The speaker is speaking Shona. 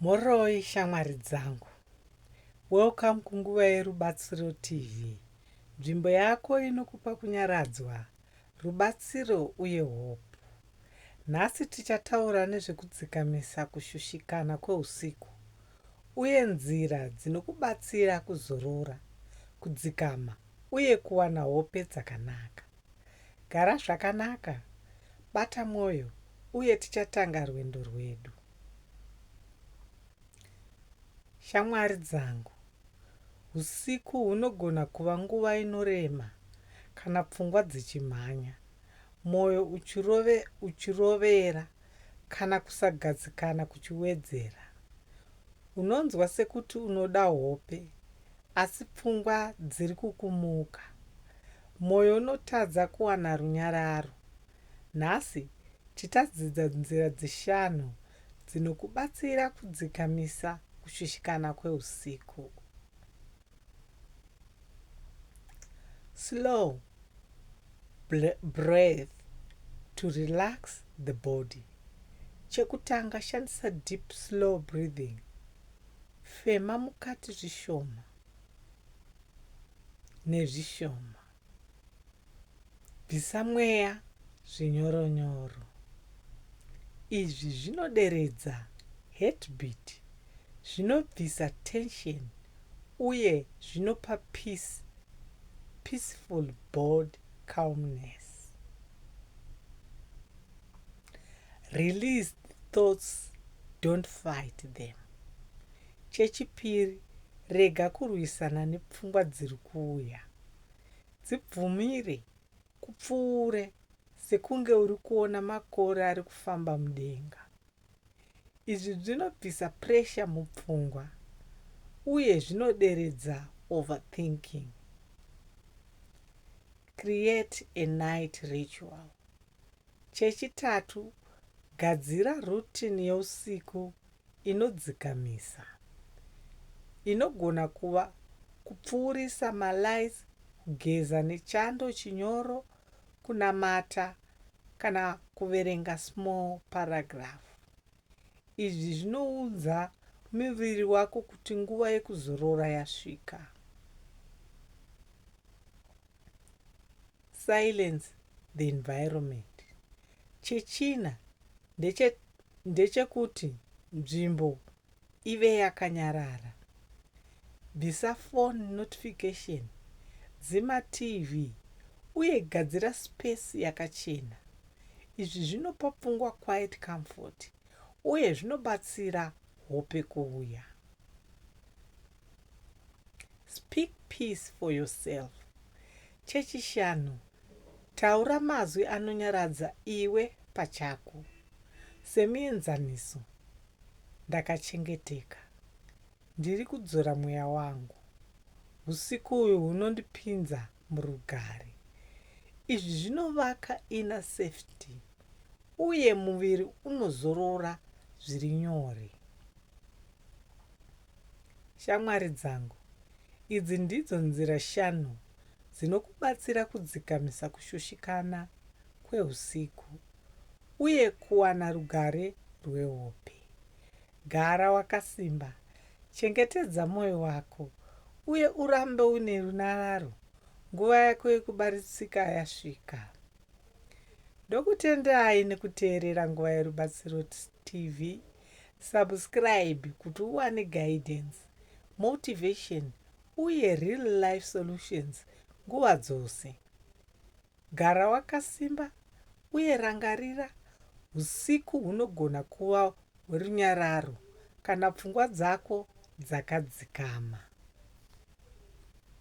Mhoroi shamwari dzangu. Welcome kunguva yeRubatsiro TV, nzvimbo yako inokupa kunyaradzwa, rubatsiro uye hope. Nhasi tichataura nezvekudzikamisa kushushikana kweusiku uye nzira dzinokubatsira kuzorora, kudzikama uye kuwana hope dzakanaka. Gara zvakanaka, bata mwoyo, uye tichatanga rwendo rwedu. Shamwari dzangu, usiku hunogona kuva nguva inorema kana pfungwa dzichimhanya, mwoyo uchirovera, kana kusagadzikana kuchiwedzera. Unonzwa sekuti unoda hope, Asi pfungwa dziri kukumuka. Moyo unotadza kuwana runyararo. Nhasi tichadzidza nzira dzishanu dzinokubatsira kudzikamisa kushushikana kweusiku. Slow breath to relax the body. Chekutanga shandisa deep slow breathing. Fema mukati zvishoma nezvishoma. Bvisa mweya zvinyoronyoro. Izvi zvinoderedza heartbeat, zvinobvisa tension uye zvinopa peace, peaceful board calmness. Release thoughts don't fight them. Chechipiri rega kurwisana nepfungwa dziri kuuya. Dzibvumire kupfuure sekunge uri kuona makore ari kufamba mudenga. Izvi zvinobvisa pressure mupfungwa uye zvinoderedza overthinking. Create a night ritual. Chechitatu, gadzira rutini yousiku inodzikamisa. Inogona kuva kupfuurisa malights, kugeza nechando chinyoro, kunamata, kana kuverenga small paragraph. Izvi zvinoudza muviri wako kuti nguva yekuzorora yasvika. Silence the environment. Chechina ndeche ndechekuti nzvimbo ive yakanyarara. Bvisa phone notification, dzima TV uye gadzira space yakachena. Izvi zvinopa pfungwa quiet comfort uye zvinobatsira hope kuuya. Speak peace for yourself. Chechishanu, taura mazwi anonyaradza iwe pachako. Semuenzaniso, Ndakachengeteka. Ndiri kudzora mweya wangu. Usiku uyu hunondipinza murugare. Izvi zvinovaka inner safety uye muviri unozorora zviri nyore. Shamwari dzangu, idzi ndidzo nzira shanu dzinokubatsira kudzikamisa kushushikana kwehusiku uye kuwana rugare rwehope. Gara wakasimba, chengetedza mwoyo wako, uye urambe une runyararo nguva yako yekubatsirika yasvika. Ndokutendai nekuteerera Nguva Yerubatsiro Tst. TV subscribe kuti uwane guidance, motivation uye real life solutions nguva dzose. Gara wakasimba uye rangarira husiku hunogona kuva hwerunyararo kana pfungwa dzako dzakadzikama.